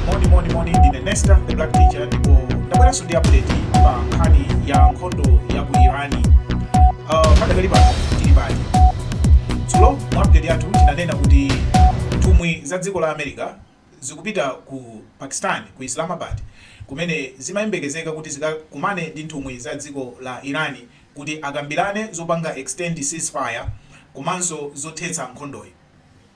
moni moni moni ndine nesta the black teacher ndipo ndabweranso ndi update pa nkhani ya nkhondo ya ku irani uh, padakali pano tili pati dzulo mu update yathu tinanena kuti nthumwi za dziko la america zikupita ku pakistan ku islamabad kumene zimayembekezeka kuti zikakumane ndi nthumwi za dziko la irani kuti akambirane zopanga extend ceasefire komanso zothetsa nkhondoyi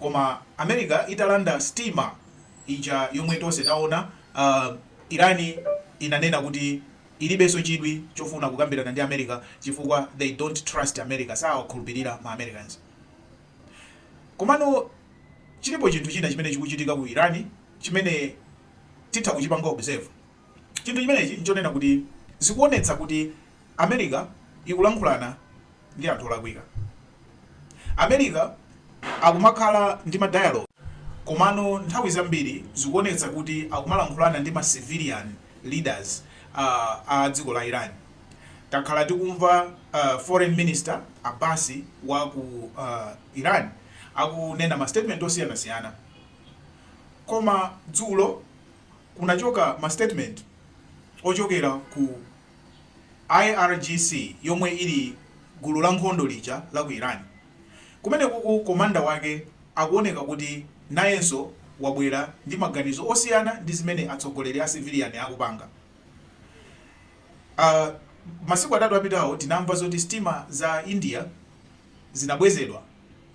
Koma America italanda sitima ija yomwe tonse taona, uh, Iran inanena kuti ilibenso chidwi chofuna kukambirana ndi America chifukwa they don't trust America, sawakhulupirira ma Americans. Komano chilipo chinthu china chimene chikuchitika ku Iran chimene titha kuchipanga observe. Chinthu chimenechi n'chonena kuti zikuonetsa kuti America ikulankhulana ndi anthu olakwika. America akumakhala ndi ma dialogue komano nthawi zambiri zikuonetsa kuti akumalankhulana ndi ma civilian leaders a a dziko la Iran. Takhala tikumva foreign minister Abbasi wa ku Iran akunena ma statement osiyanasiyana koma dzulo. Kunachoka ma statement ochokera ku IRGC yomwe ili gulu la nkhondo lija la ku Iran. Kumenekuku commander wake akuoneka kuti nayenso wabwera ndi maganizo osiyana ndi zimene atsogoleri a civilian akupanga. Ah, masiku atatu apitawo tinamva zoti sitima za India zinabwezedwa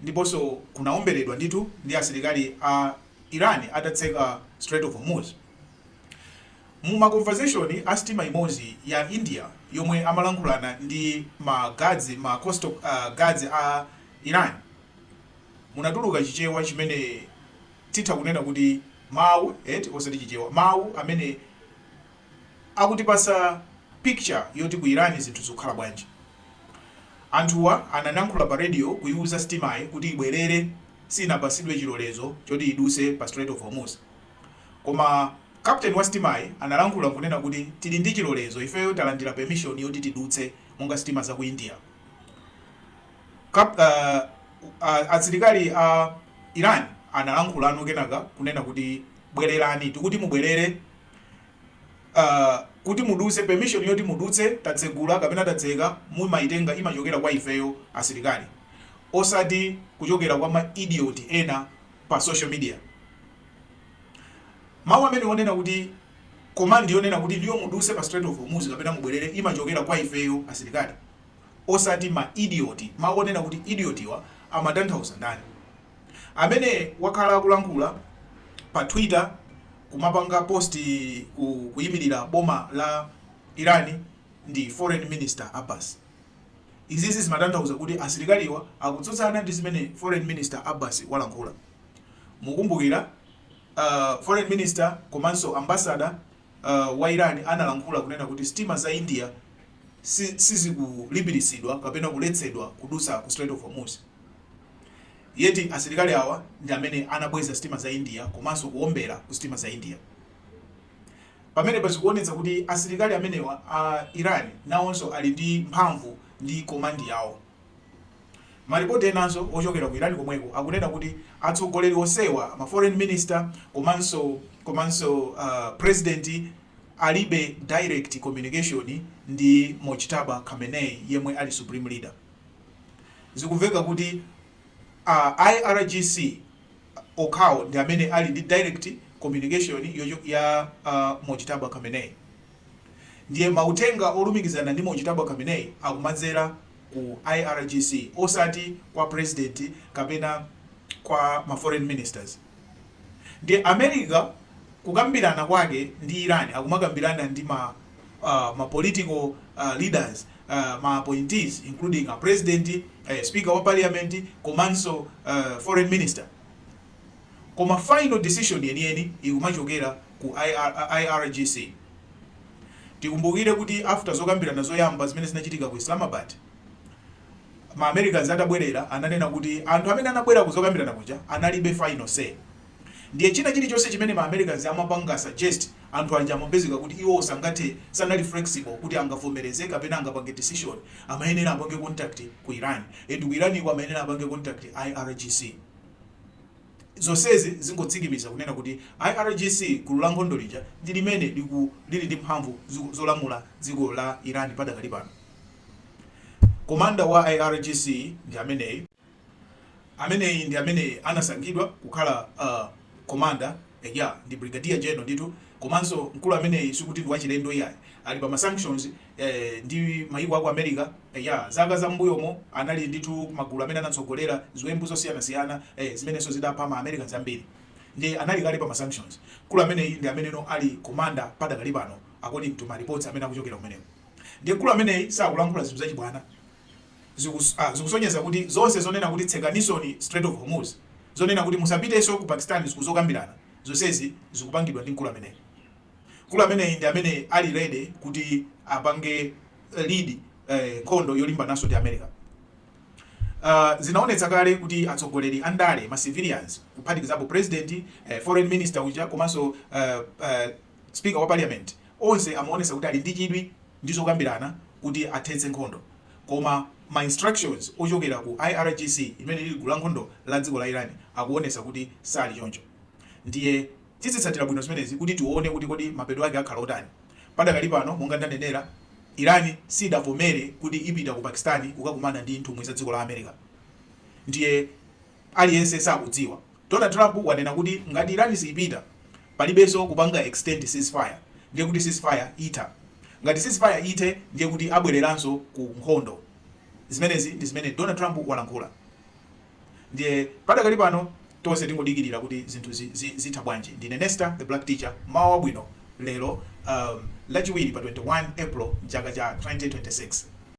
ndiponso kunaomberedwa ndithu ndi asilikali a. Iran atatseka Strait of Hormuz. Mu ma conversation a sitima imodzi ya India yomwe amalankhulana ndi ma guards, ma coastal guards a Iran, munatuluka Chichewa chimene titha kunena kuti mawu eti osati Chichewa, mawu amene. Akutipasa picture yoti ku Iran zinthu zikukhala bwanji. Anthuwa analankhula pa radio kuyiwuza sitimayi kuti ibwerere siyinapasidwe chilolezo choti iduse pa Strait of Hormuz. Koma Captain wa sitimayi analankhula kunena kuti tili ndi chilolezo ifeyo talandira permission yoti tidutse monga sitima za ku India. Kap uh, uh, Asilikali a Iran analankhulano kenaka kunena kuti bwererani tikuti mubwerere Uh, kuti muduse permission yoti mudutse tatsegula kapena tatseka mumaitenga imachokera kwa ifeyo asilikali osati kuchokera kwa ma idiot ena pa social media mawu amene onena kuti command yonena kuti ndiyo muduse pa Strait of Hormuz kapena mubwerere imachokera kwa ifeyo asilikali osati ma idiot mawu onena kuti idiotiwa amatanthauza ndani amene wakhala akulankhula pa twitter kumapanga post kuyimilira boma la Iran ndi foreign minister Abbas. Izizi zimatanthauza kuti asilikaliwa akutsutsana ndi zimene foreign minister Abbas walankhula. Mukumbukira foreign minister komanso ambassador wa Iran analankhula kunena kuti sitima za India sizikulipiritsidwa kapena kuletsedwa kudutsa ku Strait of Hormuz. Yet asilikali awa ndi amene anabweza sitima za India komanso kuombera ku sitima za India. Pamenepa zikuonetsa kuti asilikali amenewa a Iran nawonso ali ndi mphamvu ndi command yawo. Ma report enanso ochokera ku Iran komweko akunena kuti atsogoleri onsewa, ma foreign minister komanso komanso uh, president alibe direct communication ndi Mojtaba Khamenei yemwe ali supreme leader. Zikumveka kuti a IRGC okhawo ndi amene ali ndi direct communication ya Mojtaba Khamenei. Ndiye mauthenga olumikizana ndi Mojtaba Khamenei akumadzera ku IRGC osati kwa president kapena kwa ma foreign ministers. Ndiye America kukambirana kwake ndi Iran akumakambirana ndi ma political leaders, ma appointees including a president, speaker wa parliament komanso foreign minister koma final decision yeniyeni ikumachokera ku IRGC. Tikumbukire kuti after zokambirana zoyamba zimene zinachitika ku Islamabad, ma Americans atabwerera ananena kuti anthu amene anabwera ku zokambirana kuja analibe final say ndiye china chilichonse chimene ma Americans amapanga suggest anthu aja amapezeka kuti iwowo sangathe, sanali flexible kuti angavomereze kapena angapange decision, amayenera apange contact ku Iran and ku Iran ko amayenera apange contact IRGC. Zonsezi zingotsikimiza kunena kuti IRGC, gulu la nkhondo lija, ndi limene lili ndi mphamvu zolamula dziko la Iran padakali pano. Commander wa irgc ndi ameneyi. Ameneyi ndi amene anasankhidwa kukhala uh, commander eya ndi brigadier general ndithu komanso mkulu ameneyi sikuti ndi wachilendo iyayi ali pa ma sanctions eh, ndi mayiko aku America eya zaka za mbuyomo anali ndithu m'magulu amene anatsogolera ziwembu zosiyanasiyana eh, zimenenso zidapha ma Americans ambiri ndi anali kale pa ma sanctions mkulu ameneyi ndi ameneyo ali commander padakali pano according to ma reports amene akuchokera kumeneko Ndiye mkulu ameneyi sakulankhula zinthu zachibwana. Zikus, a, zikusonyeza kuti zonse zonena kuti tsekanisoni Strait of Hormuz, zonena kuti musapitenso ku Pakistan zikuzokambirana, zonsezi zikupangidwa ndi mkulu ameneyi. Mkulu ameneyi ndi amene ali ready kuti apange lead eh, nkhondo yolimbananso ndi America. Uh, zinaonetsa kale kuti atsogoleri a ndale ma civilians kuphatikizapo president eh, foreign minister uja komanso uh, uh, Speaker wa Parliament onse amaonesa kuti ali ndi chidwi ndi zokambirana kuti athetse nkhondo koma ma instructions ochokera ku IRGC imene ili gulu la nkhondo la dziko la Iran akuonesa kuti sali choncho ndiye tizitsatira bwino zimenezi kuti tione kuti kodi mapeto ake akhala otani padakali pano monga ndanenera Iran sidavomere kuti ipita ku Pakistan kukakumana ndi nthumwi za dziko la America ndiye aliyense sakudziwa. Donald Trump wanena kuti ngati Iran siipita palibenso kupanga extend ceasefire ndiye kuti ceasefire itha. Ngati ceasefire ithe ndiye kuti abwereranso ku nkhondo. Zimenezi ndi zimene Donald Trump walankhula ndiye padakali pano tonse tingodikirira kuti zinthu zi zi zitha bwanji. Ndine Nesta the Black Teacher, mmawa wabwino lero um lachiwiri pa 21 April mchaka cha 2026.